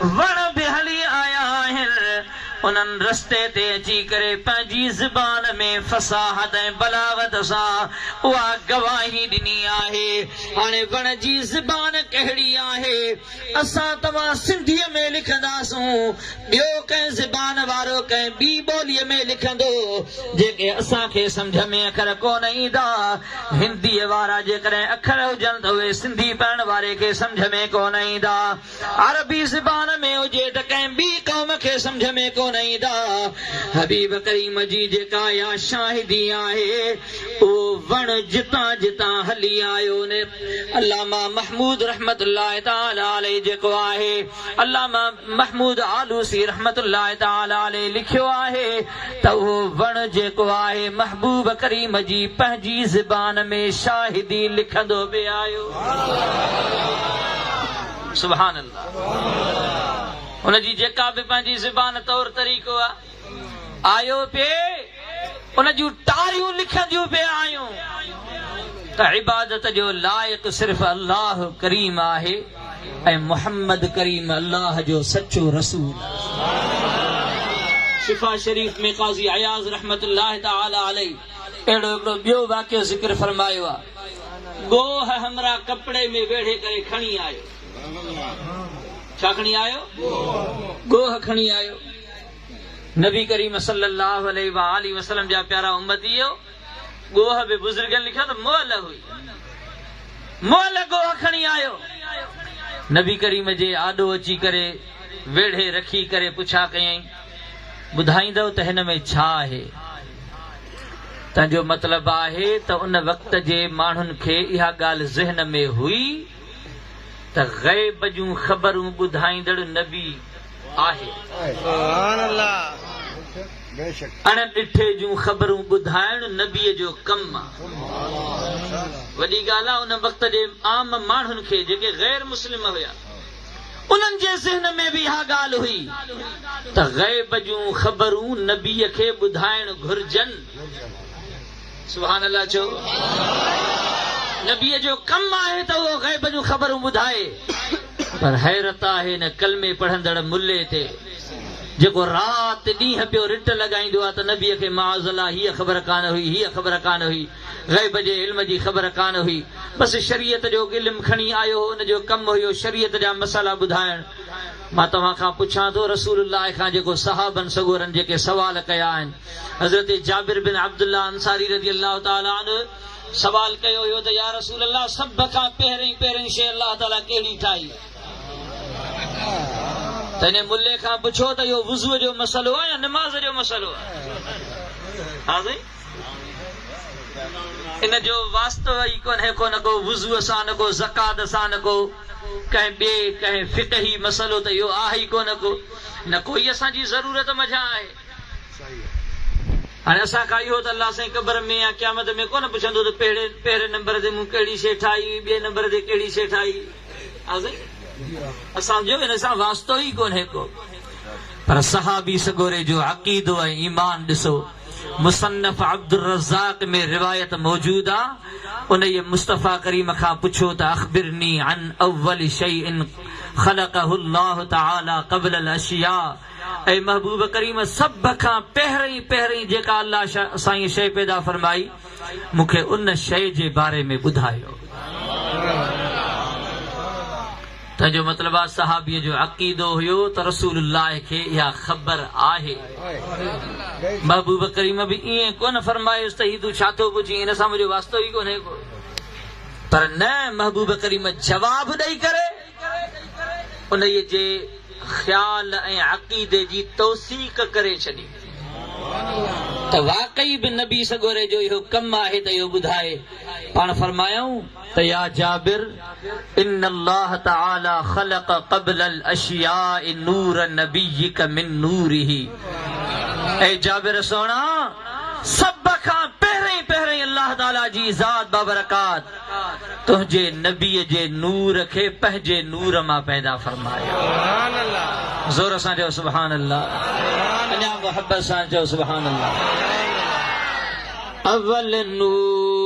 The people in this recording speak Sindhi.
وڻ به هلي آيا آهن، انهن رستي تي اچي ڪري پنهنجي زبان ۾ فصاحت ۽ بلاغت سان اها گواهي ڏني آهي. هاڻي وڻ جي زبان ڪهڙي آهي؟ اسان توهان سنڌيء ۾ لکنداسون، ٻيو ڪنهن زبان وارو ڪنهن ٻي ٻوليء ۾ لکندو، جيڪي اسان کي سمجهه ۾ اکر ڪونه ايندا. هنديء وارا جيڪڏهن اکر هجن ته اهي سنڌي پڙهڻ واري کي سمجهه ۾ ڪونه ايندا. عربي زبان ۾ هجي ته ڪنهن ٻي قوم کي سمجهه ۾ ڪونه ايندا. حبيب ڪريم جي جيڪا اها شاهدي آهي، اهو وڻ جتان جتان هلي آيو ني علامه محمود رحمة الله تعالٰي عليه جيڪو آهي، علامه محمود آلوسي رحمة الله تعالٰي عليه لکيو آهي، ته اهو وڻ جيڪو آهي محبوب ڪريم جي پنهنجي زبان ۾ شاهدي لکندو به آيو. سبحان الله ان جي جيڪا به پنهنجي زبان طور طريقو آيو پي ان جون ٽاريون لکنديون پي آيون ته عبادت جو لائق صرف الله ڪريم آهي. ۽ محمد ڪريم الله جو سچو رسول شفا شريف ۾ قاضي اياز رحمة الله تعالي عليه اهڙو هڪڙو ٻيو واقعو ذڪر فرمايو آ ڳوهه همراهه ڪپڙي ۾ ويڙهي ڪري کڻي آيو ڇا کڻي آيو ڳوهه کڻي آيو نبي ڪريم صلي الله عليه وآله وسلم جا پيارا امتيو ڳوهه به بزرگن لکيو ته مئل هئي. مئل ڳوهه کڻي آيو. نبي ڪريم جي آڏو اچي ڪري ويڙهي رکي ڪري پڇا ڪيائين، ٻڌائيندؤ ته هن ۾ ڇا آهي؟ تنهن جو مطلب آهي ته ان وقت جي ماڻهن کي اها ڳالهه ذهن ۾ هئي ته غيب جون خبرون ٻڌائيندڙ نبي، آهي. اڻ ڏٺي جون خبرون ٻڌائڻ نبيء جو ڪم آ. وڏي ڳالهه آ ان وقت جي عام ماڻهن کي جيڪي غير مسلم هيا انهن جي ذهن ۾ به اها ڳالهه هئي ته غيب جون خبرون نبيء کي ٻڌائڻ گهرجن. سبحان الله چئو. نبيء جو ڪم آهي ته اهو غيب جون خبرون ٻڌائي پر حيرت آهي ان ڪلمي پڙهندڙ ملي تي جيڪو رات ڏينهن پيو رٽ لڳائيندو آهي ته نبيء کي معاذ الله هيء خبر ڪانه هئي هيء خبر ڪانه هئي غيب جي علم جي خبر ڪانه هئي بس شريعت جو علم کڻي آيو هو ان جو ڪم هيو شريعت جا مسئلا ٻڌائڻ مان توهان کان پڇان ٿو رسول الله کان جيڪو صحابن سڳورن جيڪي سوال ڪيا آهن. حضرت جابر بن عبدالله انصاري رضي الله تعالٰي عنه سوال ڪيو هيو ته يا رسول الله سڀ کان پهرئين پهرئين شيء الله تعالٰي ڪهڙي ٺاهي؟ ته انهي ملي کان پڇو ته اهو وضوء جو مسئلو آهي يا نماز جو مسئلو آهي؟ ها سائين! ان جو واسطو ئي ڪونهي ڪو نه ڪو وضوء سان نه ڪو زڪوات سان نه ڪو ڪنهن ٻئي ڪنهن فقهي مسئلو ته اهو آهي ئي ڪونه ڪو نه ڪوئي اسان جي ضرورت منجهان آهي. هاڻي اسان کان اهو ته الله سائين قبر ۾ يا قيامت ۾ ڪونه پڇندو ته پهرين نمبر تي مون ڪهڙي شيء ٺاهي هئي، ٻئي نمبر تي ڪهڙي شيء ٺاهي هئي. ها سائين! اسان جو ان سان واسطو ئي ڪونهي ڪو. پر صحابي سڳوري جو عقيدو ۽ ايمان ڏسو. مصنف عبدالرزاق ۾ روايت موجود آ، انهيء مصطفيٰ ڪريم کان پڇو ته اخبرني عن اول شيء خلقه الله تعالٰي قبل الاشياء. اي محبوب ڪريم سڀ کان پهرئين پهرئين جيڪا الله سائين شيء پيدا فرمائي مون کي ان شيء جي باري ۾ ٻڌايو تنهن جو مطلب آ صحابي جو عقيدو هيو ته رسول الله کي اها خبر آهي محبوب ڪريم به ائين ڪونه فرمايس ته هي تون ڇا ٿو پڇين هن سان منهنجو واسطو ئي ڪونهي ڪو پر نه محبوب ڪريم جواب ڏئي ڪري انهيء جي خيال ۽ عقيدي جي توثيق ڪري ڇڏي ته واقعي به نبي سڳوري جو اهو ڪم آهي ته اهو ٻڌائي پاڻ فرمايائون ته يا جابر ان الله تعالي خلق قبل الاشياء نور نبيك من نوره اي جابر سهڻا سڀ کان پهرئين پهرئين الله تعالي جي ذات بابرڪات تنهنجي نبيء جي نور کي پنهنجي نور مان پيدا فرمايو. زور سان چئو سبحان الله. اڃا محبت سان چئو سبحان الله. اول نور.